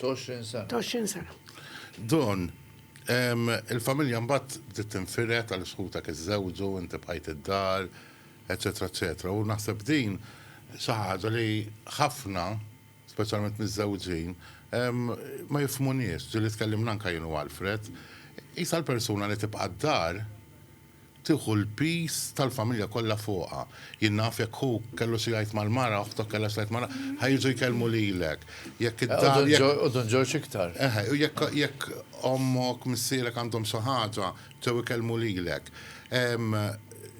20 sena. 20 sena. Don, il-familja mbagħad bdiet tinfired għal sħutak iżżewġu, inti bħajt id-dar, eċetera, eċetera. U naħseb din xi ħaġa li ħafna, speċjalment miżżewġin, ma jifhmuniex, ġieli tkellimna anke jien u Alfred, qisha l-persuna li tibqa' d-dar, tieħu l-piż tal-familja kollha fuqha. Jien naf jekk ħuk kellu xi jgħid mal-mara, oħtok kellha xi tgħid mal-mara, ħa jiġu jkellmu lilek. Jekk id-dar, jekk. U Dun Ġorġ iktar. Eħe, u jekk jekk ommok, missierek għandhom xi ħaġa, ġew ikellmu lilek.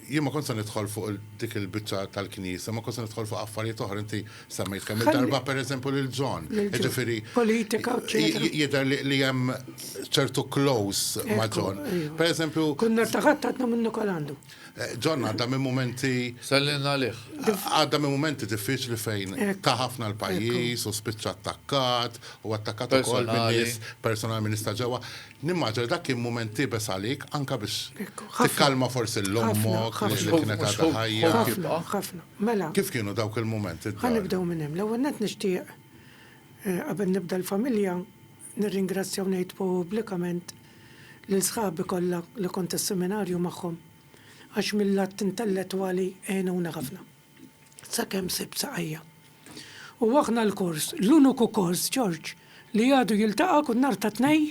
Jien ma kontx se nidħol fuq dik il-biċċa tal-knisja, ma kontx se nidħol fuq affarijiet oħra, inti. Semmejt kemm darba per eżempju lil John. Ġifieri. Politika Jidher li hemm ċertu close ma' John. Per eżempju. Kunna taħat għadna minn Nikolandu. Eh, John għadda minn momenti. Sellin għalih. Għadda minn momenti diffiċli fejn ta' ħafna l-pajjiż u spiċċa attakkat u attakkat ukoll minn nies personal minn ġewwa. Nimmaġina li dak kien mument iebes għalik, anke biex tikkalma forsi lil ommok li kienet għadha ħajja. Ħafna, ħafna. Mela. Kif kienu dawk il-mumenti d-dar? Ħa nibdew minn hemm. L-ewwel nett nixtieq, qabel nibda l-familja, nirringrazzja u ngħid pubblikament lil sħabi kollha li kont is-seminarju magħhom għax mil-lat intellettwali għenuna ħafna. sakemm sibt saqajja. U aħna l-kors, l-uniku kors, Ġorġ, li għadu jiltaqa' kull nhar ta' Tnej,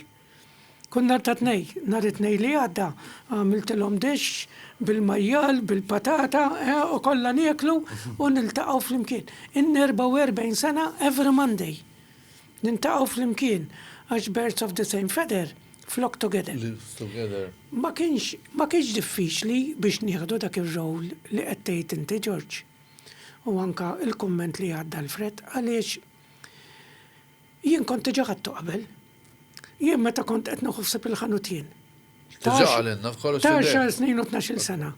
kull nhar ta' Tnej, nhar it-Tnej li għadda, għamiltilhom dixx bil-majjal, bil-patata, eh, u kollha nieklu u niltaqgħu flimkien. In-44 sena every Monday. Nintaqgħu flimkien għax birds of the same feather. flok together. Lives together. Ma kienx ma kienx diffiċli biex nieħdu dak ir-role li qed tgħid inti Ġorġ u anke l-kumment li għadda l-Fred għaliex jien kont diġà ħadtu qabel. Jien meta kont qed nieħu ħsieb il-ħanut jien. Ta' xar snin u tnax-il sena.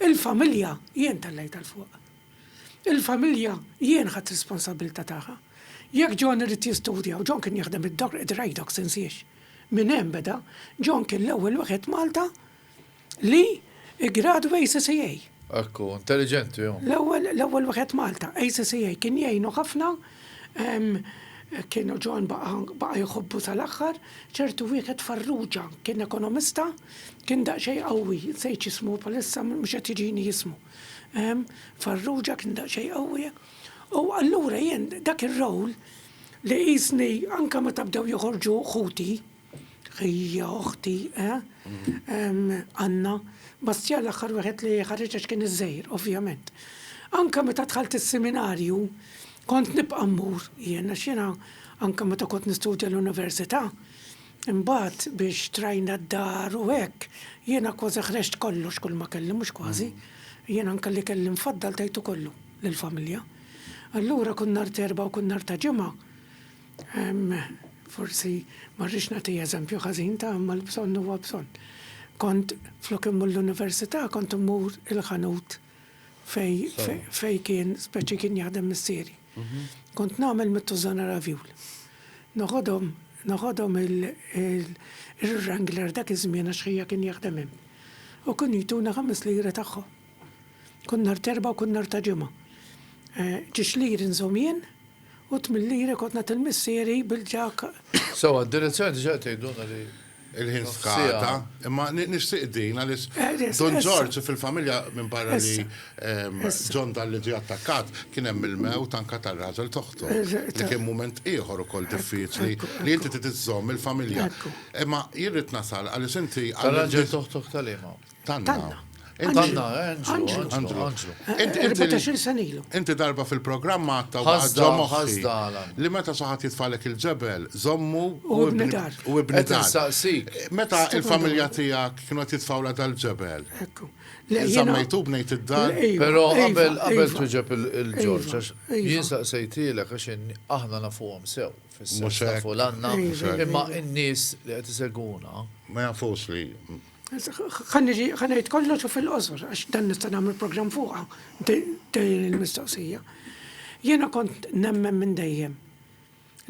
Il-familja jien tellejt għal fuq. Il-familja jien ħadd responsabilità tagħha. Jekk John irid jistudja u John kien jaħdem id-dok id-rajdoks insiex. Minn hemm beda, John kien l-ewwel wieħed f'Malta li ggradwa ACCA. Hekk hu, intelliġenti hu. L-ewwel, l-ewwel wieħed f'Malta, ACCA. Kien jgħinu ħafna, kien John baqa', baqa' jħobbu sal-aħħar, ċertu wieħed Farrugia, kien ekonomista, kien daqsxejn qawwi, nsejt x'ismu bħalissa, mhux qed jiġini ismu. Farrugia kien daqsxejn qawwi. U allura jien dak ir-role, Li qisni anke meta bdew joħorġu ħuti, ħija, oħti, eh? Anna, Bastjan l-aħħar wieħed li ħareġ għax kien iż-żgħir, ovvjament. Anke meta dħalt is-siminarju, kont nibqa' mmur jien għax jiena anke meta kont nistudja l-università, imbagħad biex trajna d-dar u hekk, jiena kważi ħreġt kollox kulma kelli, mhux kważi, jiena anke li kelli mfaddal tajtu kollu lill-familja. Allura kull nhar t'Erbgħa u kull nhar ta' Ġimgħa, forsi ma rridx nagħti eżempju ħażin ta' imma l-bżonn huwa bżonn, kont flok immur l-università kont immur il-ħanut fejn kien speċi kien jaħdem missieri. Kont nagħmel mit-tużżana ravjul. Noħodhom noħodhom il-wrangler dak iż-żmien għax ħija kien jaħdem hemm u kienu jtuna ħames liri tagħhom. Kull nhar t'Erbgħa u kull nhar ta' Ġimgħa. Ġiex lir inżomm jien u tmien liri kont nagħtil missieri bil-ġakk. Sewwa, d-direzzjoni diġà qed tgħidulna li l-ħin skada, imma nixtieq din għaliex Dun Ġorġ fil-familja minbarra li John Dalli ġie attakkat, kien hemm il-mewt anke tar-raġel t'oħtu, li kien mument ieħor ukoll diffiċli li inti trid iżżomm il-familja. Imma jien rrid nasal għaliex inti. Tar-raġel t'oħtok tal-liema? Tanna. Tanna, Anġlu. Anġlu. Inti darba fil-programma għatta u għadda moħħi. Li meta saħat jitfalek il-ġebel, zommu u ibnidar. U ibnidar. Meta il-familja tijak kienu jitfawla dal-ġebel. Ekku. Zammejtu bnejt id-dar. Pero qabel qabel tuġeb il-ġorġa, jien saqsejtilek għax aħna nafuhom sew. Mux fulanna. Imma n-nis li għet iseguna. Ma jafux li. Ħanniġi ħanajt kollox u fil-qosor, għax dan nista' nagħmel programm fuqha, tgħin il-mistoqsija. Jiena kont nemmen minn dejjem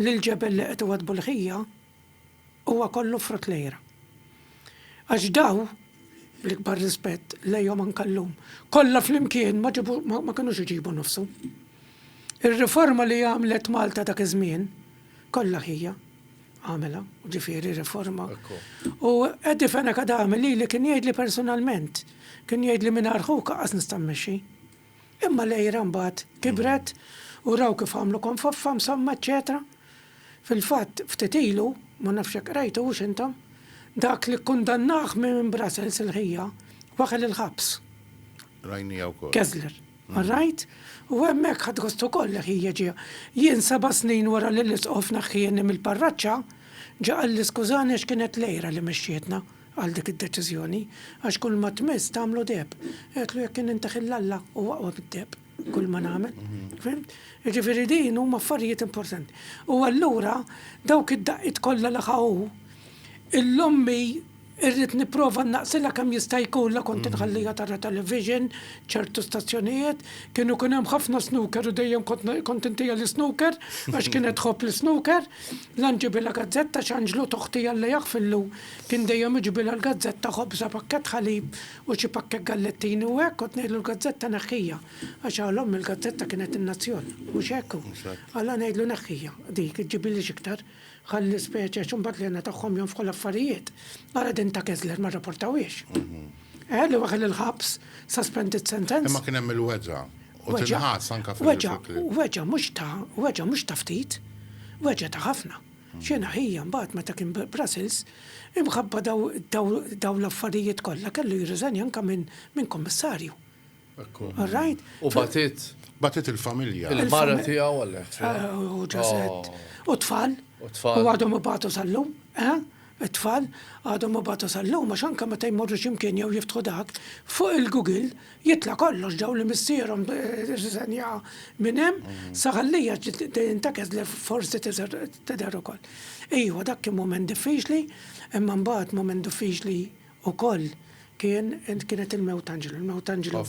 li l-ġebel li qed iwad bulħija huwa kollu frott lejra. Għax daw, l-ikbar rispett lejhom anke llum, kollha flimkien ma kinux iġibu nofsu. Ir-riforma li għamlet Malta dak iż-żmien kollha ħija, għamela, ġifiri riforma. U Eddie Fena kad għamil li li kien jgħid li personalment, kien jgħid li minn arħu kaqas nistammexi. Imma lejra mbagħad kibret u raw kif għamlu konfoffa msamma eċetera. Fil-fatt ftit ilu, ma nafx hekk rajtu hux intom, dak li kkundannaħ minn Brussels il-ħija waħel il-ħabs. Rajnija wkoll. Kessler. All right? U hemmhekk ħadt gost ukoll li ħija ġie. Jien seba' snin wara li l-Isqof naħħieni mill-parraċċa, ġa qalli skużani għax kienet l-għira li mexxietna għal dik id-deċiżjoni, għax kulma tmiss tagħmlu deheb. Għedtlu jekk kien inti ħilla Alla, hu aqwa mid-deheb, kulma nagħmel. Fhimt? Jiġifieri din huma affarijiet importanti. U allura dawk id-daqqiet kollha li ħa hu, illum hi Irrid nipprova nnaqsilha kemm jista' jkun la kont inħalliha tara television, ċertu stazzjonijiet, kienu jkun hemm ħafna snooker u dejjem kont intiha l-isnooker għax kienet tħobb l-isnooker, la nġibilha gazzetta għax Anġlu t'oħti Alla jaħfillu kien dejjem iġibilha l-gazzetta, ħobża, pakkett ħalib u xi pakkett gallettini u hekk, kont ngħidlu l-gazzetta neħħiha għax għal ommi l-gazzetta kienet in-nazzjon, mhux hekk? Alla ngħidlu neħħiha dik, iġġibili x'iktar. Ħalli l-ispeċi għax imbagħad l-hena tagħhom jonfħu l-affarijiet. Ara din ta' Kessler ma rraportawhiex. Eh, li waħel il-ħabs, suspended sentence. Imma kien hemm il-weġa' u tinħass anke fil-videoclip. Weġa' mhux ta' weġa' mhux ta' ftit, weġa' ta' ħafna. Xena ħija mbagħad meta kien Brussels, imħabba dawn l-affarijiet kollha kellu jirriżenja anke minn kummissarju. Ekku. All right? U batit. Batit il-familja. Il-mara tiegħu għalek. Eh, u ġaset. Oh. U tfal. U tfal. U għadhom ibatu sal-lum. Eh? it-tfal għadhom ma batu sal-lum, għax anka meta jmorru ximkien jew jiftħu dak, fuq il-Google jitla kollox daw li missierhom riżenja eh, minn hemm, mm. saħallija tintakez li forsi tidher ukoll. Ejwa dak kien moment diffiċli, imma mbagħad moment diffiċli Ukoll kien kienet il-mewt Anġlu, il-mewt Anġlu,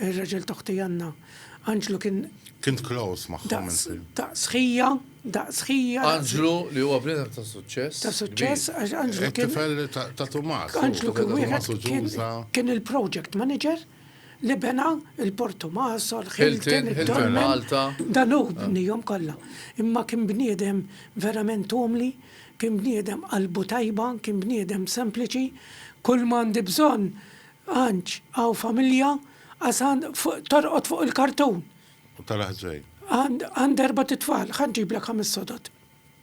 ir-raġel ta' ħti Anna. Anġlu kien. Kint close magħhom il-film. Daqs ħija, daqs ħija. Anġlu li huwa bniedem ta' suċċess. Ta' suċċess għax Anġlu kien. Tifel ta' Tumas. Anġlu kien wieħed kien il-project manager. Libena, il-Portomaso, l-Hilton, il-Dolmen, Malta. Dan hu bnihom kollha. Imma kien bniedem verament umli, kien bniedem qalbu tajba, kien bniedem sempliċi. Kull ma għandi bżonn, Anġ, hawn familja, għax għand fuq torqod fuq il-kartun. U tal-ħżejn. Għand għand erbat it-tfal, ħa nġiblek ħames sodod.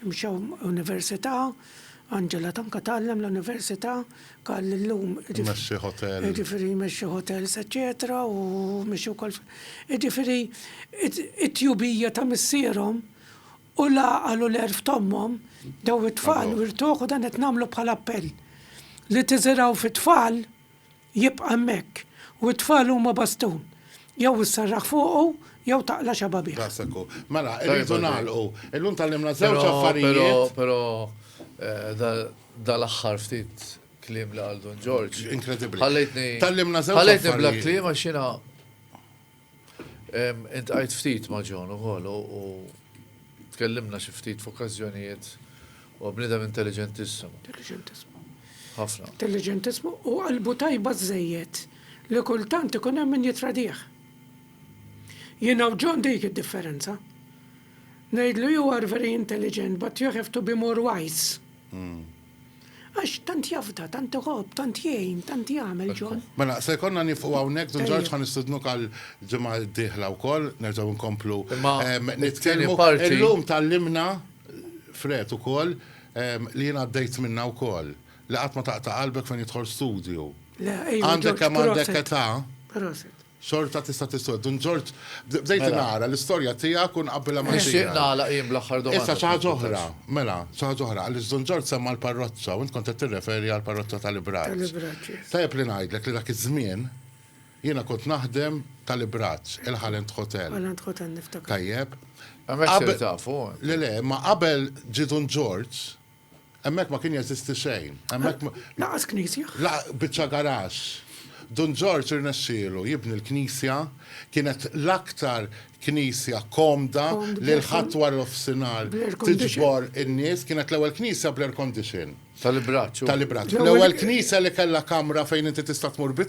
Mxew università, Angela Tanka tgħallem l-università, Karl illum. Imexxi hotel. Jiġifieri jmexxi hotels eċċetera u mexxi wkoll. Jiġifieri it-tjubija ta' missierhom u l-għaqal u l-għerf t'ommhom daw it-tfal wirtuh u dan qed nagħmlu bħala appell li tiżirgħu fit-tfal jibqa' hemmhekk, u t-tfal huma bastun, jew isserraħ fuqu jew taqla' xababih. Daqshekk hu. Mela, irridu nagħlqu. Illum tgħallimna żewġ affarijiet. Però, però, dal-aħħar ftit kliem li qal Dun Ġorġ. Inkredibbli. Ħallejtni. Tgħallimna żewġ affarijiet. Ħallejtni bla kliem għax jiena Iltqajt ftit ma' John ukoll u tkellimna xi ftit f'okkażjonijiet. Huwa bniedem intelliġentissimu. Intelliġentissimu. Ħafna. Intelliġentissimu u qalbu tajba żżejjed li kultant ikun hemm min jittradih. Jiena u John dik id-differenza. Ngħidlu you are very intelligent but you have to be more wise. Għax tant jafda, tant iħobb, tant jgħin, tant jagħmel John. Mela, se jkollna nieqfu hawnhekk, Dun Ġorġ ħa nistidnuk għall-ġimgħa d-dieħla wkoll, nerġgħu nkomplu nitkellmu. Illum tgħallimna, Fred ukoll, li jien għaddejt minnha wkoll, li qatt ma taqta' qalbek fejn jidħol studju. Għandek kemm għandek età. Xorta tista' tiswed. Dun Ġorġ, bdejt nara l-istorja tiegħek u nqabbilha ma' tiegħi. Nixtieq nagħlaq jien bl-aħħar domanda. Issa xi ħaġa oħra, mela, xi ħaġa oħra, għaliex Dun Ġorġ semma l-parroċċa u int kont qed tirreferi għall-parroċċa ta' l-Ibraġ. Ta' l-Ibraġ, yes. Tajjeb li ngħidlek li dak iż-żmien jiena kont naħdem ta' l-Ibraġ, il-Halland Hotel. Halland Hotel, niftakar. Tajjeb. Hemmhekk sirt tafu. Le, le, imma qabel ġie Dun Ġorġ, Hemmhekk ma kien jeżisti xejn. Hemmhekk Lanqas knisja. Biċċa garaxx. Dun Ġorġ irnexxielu jibni l-knisja, kienet l-aktar knisja komda li l-Ħadd wara nofsinhar tiġbor in-nies, kienet l-ewwel knisja bl-air condition. Tal-ibraċċ. Tal-ibraċċ. L-ewwel knisja li kellha kamra fejn inti tista' tmur bi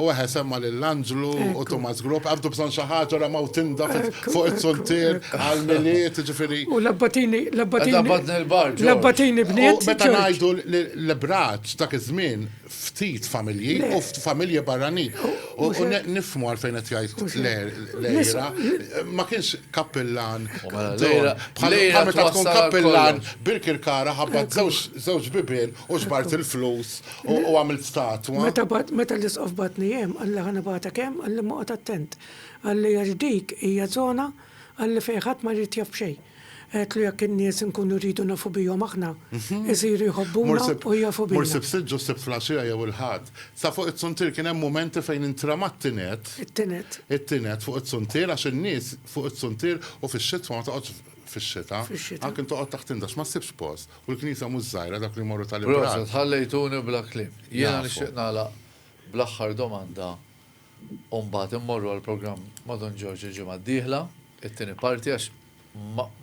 U eħe semma lil Anġlu u Tumas Grupp, għabdu bżonn xi ħaġa ora maw tinda fuq it-sultier għal miliet, ġifieri. U labbatini, labbatini. Labbatini bniet. Meta ngħidu l-braċ dak iż-żmien ftit familji u familji barranin. U nifhmu għalfejn qed jgħid lejra. Ma kienx kappillan. Lejra meta tkun kappillan Birkirkara ħabbat żewġ bibien u xbart il-flus U għamilt statwa. Meta bat, meta l-isqof batni jem, għalli ħana bata kem, għalli moqot attent. Għalli għax dik hija zona, għalli fejħat ma rrit jaf bxej. Għetlu jak n-nies nkunu rridu nafu bijom aħna, mhm. isiru jħobbuna u jafu bijom. Morsib siġġu sibt flasġija jew il-ħad. Sa fuq it-suntir kien hemm momenti fejn intramat tinet. It-tinet. It-tinet fuq it-suntir għax in-nies fuq it-suntir u fix-xitwa ma toqgħodx fix-xita. Għakin toqgħod taħt indax ma ssibx post. U l-knisja mhux żgħira, dawk li jmorru tal ibrat. Proset, ħallejtuni bla kliem. Jiena nixtieq nagħlaq bl-aħħar domanda u mbagħad immorru għall-programm ma' Dun Ġorġ il-ġimgħa d-dieħla, it-tieni parti għax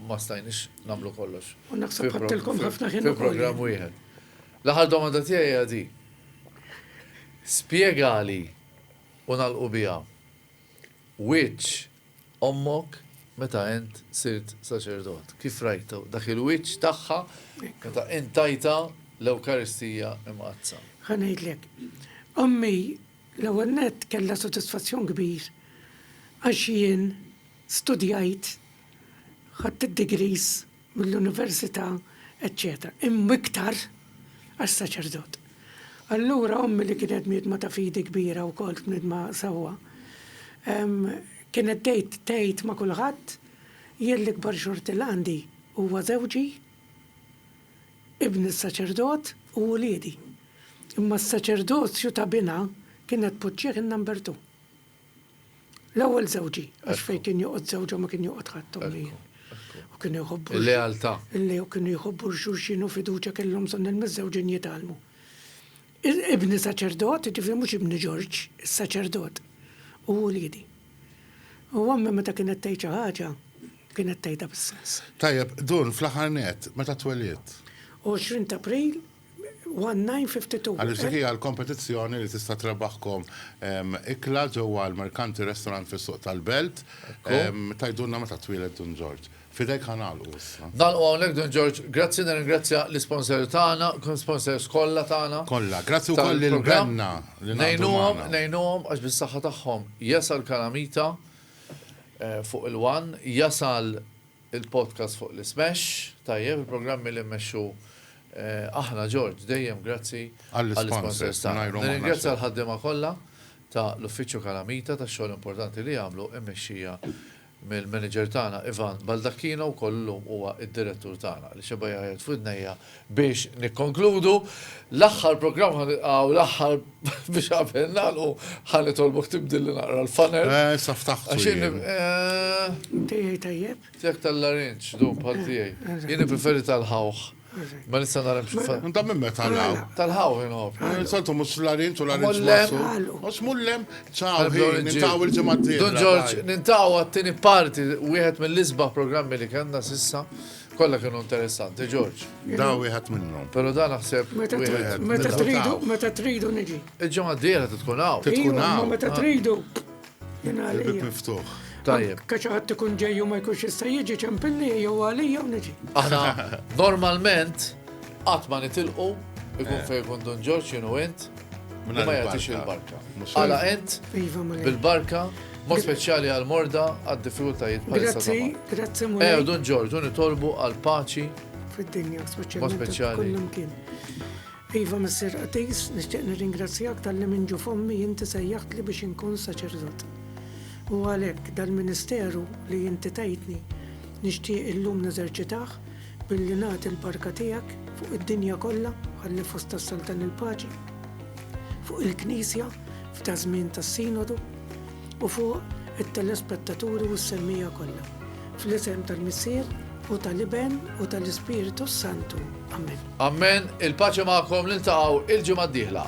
ma stajniex nagħmlu kollox. U naħseb ħadtilkom ħafna ħin ukoll. Fi programm wieħed. L-aħħar domanda tiegħi hija di. Spjegali u nagħlqu biha wiċċ ommok meta int sirt saċerdot, kif rajtha, dak il-wiċċ tagħha meta int tajtha l-Ewkaristija Imqaddsa. Ħa ngħidlek. Ommi, l-ewwel nett, kellha sodisfazzjon kbir għax jien studjajt, ħadt id-degrees, mill-università, eċċetera Imma iktar għas-saċerdot. Allura ommi li kienet bniedma ta' fidi kbira wkoll, bniedma sewwa, kienet tgħid tgħid ma' kulħadd, Jien l-ikbar xorti li għandi huwa żewġi, ibni s-saċerdot u uliedi. Imma s-saċerdozju ta' binha kienet tpoġġih in-number two. L-ewwel żewġi, għax fejn kien joqgħod żewġha ma kien joqgħod ħadd ommijiet. U kienu jħobbu. Il-lealtà. Il-lew kienu jħobbu l-xulxin u fiduċja kellhom bżonn il-miżżewġin jitgħallmu. Ibni saċerdot, ġifieri mhux ibni Ġorġ, is-saċerdot, u uliedi. U ommi meta kienet tgħid xi ħaġa, kienet tgħidha bis-sens. Tajjeb, Dun, fl-aħħar nett, meta twelidt? 20 t'April. 1952. Għaliex dik hija l-kompetizzjoni li tista' trebaħkom ikla ġewwa l-Mercanti Restaurant fis-Suq tal-Belt. Tgħidulna meta twieled Dun Ġorġ. F'idejk ħa nagħlqu issa. Nagħlqu hawnhekk Dun Ġorġ. Grazzi, nirringrazzja l-isponsors tagħna, sponsors kollha tagħna. Kollha. Grazzi wkoll lil Benna li naqdu magħna. Ngħinuhom għax bis-saħħa tagħhom jasal Kalamita fuq il-one, jasal Il-podcast fuq li smesh, tajjeb il-programmi li mmexxu aħna George, dejjem grazzi għall-isponsors tagħna. Nirringrazzja l-ħaddiema kollha ta' l-Uffiċċju Calamita tax-xogħol importanti li jagħmlu immexxija mill-manager tagħna Ivan Baldacchino wkoll illum huwa d-direttur tagħna li xebgħa jgħajjat f'widnejja Biex nikkonkludu, l-aħħar programm ħa nilqgħu l-aħħar biex qabel nagħlqu ħa nitolbok tibdilli naqra l-funnel. Eh, sa ftaħtu. Għax jien. Tiegħi eh, tajjeb? Tiegħek tal-larinġ, dum bħal eh, tiegħi. Eh, jien preferi tal-ħawħ. Ma nista nara mxiffa. Nta minn meta l-għaw. Tal-ħaw jinħob. Eh, Santu mux l-għarin tu l-għarin ġmasu. Mux mullem, ċaw, nintaw il-ġemaddi. Don Ġorġ, nintaw għattini parti, wieħed mill-isba programmi li kanna sissa. Kolla kienu interessanti, George. Da wieħed minnhom. Pero da naħseb. Meta tridu, meta tridu niġi. Il-ġimgħa d-dieħla tkun hawn. Tkun hawn. Meta ah. tridu. Il-bib miftuħ. Tajjeb. Kaċaħat tkun ġej u ma jkunx jista' jiġi ċempilli jew għalija u niġi. Aħna normalment qatt ma nitilqu ikun eh. fejn kun Don Ġorġ jienu int. Li ma jagħtix il-barka. Għala ent iva, bil-barka Mod speċjali għal morda għad diffikultajiet bħal Grazzi, grazzi mura. Ew, dun ġorġu nitolbu għal paċi. Fid-dinja, speċjali. Iva Messer Atis, nixtieq nirringrazzjak tal-li minn ġu fommi jinti sejjaħt li biex inkun saċerdot. U għalhekk dal-ministeru li jinti tajtni nixtieq illum neżerċitaħ Billi nagħti l-barka tiegħek fuq id-dinja kollha, ħalli fost tas-Saltan il-paċi, fuq il-Knisja f'daż-żmien tas-Sinodu u fuq it-telespettaturi u s-semmija kollha. Fl-isem tal-Missier u tal-Iben u tal-Ispirtu s-Santu. Amen. Amen, il-paċi magħkom niltaqgħu il-ġimgħa d-dieħla.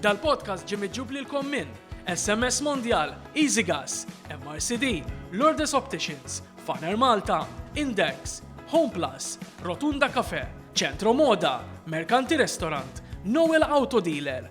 Dal-podcast ġie miġjub lilkom minn SMS Mondial, EasyGas, MRCD, Lourdes Opticians, Faner Malta, Index, Home Plus, Rotunda Cafe, Centro Moda, Mercanti Restaurant, Noel Auto Dealer,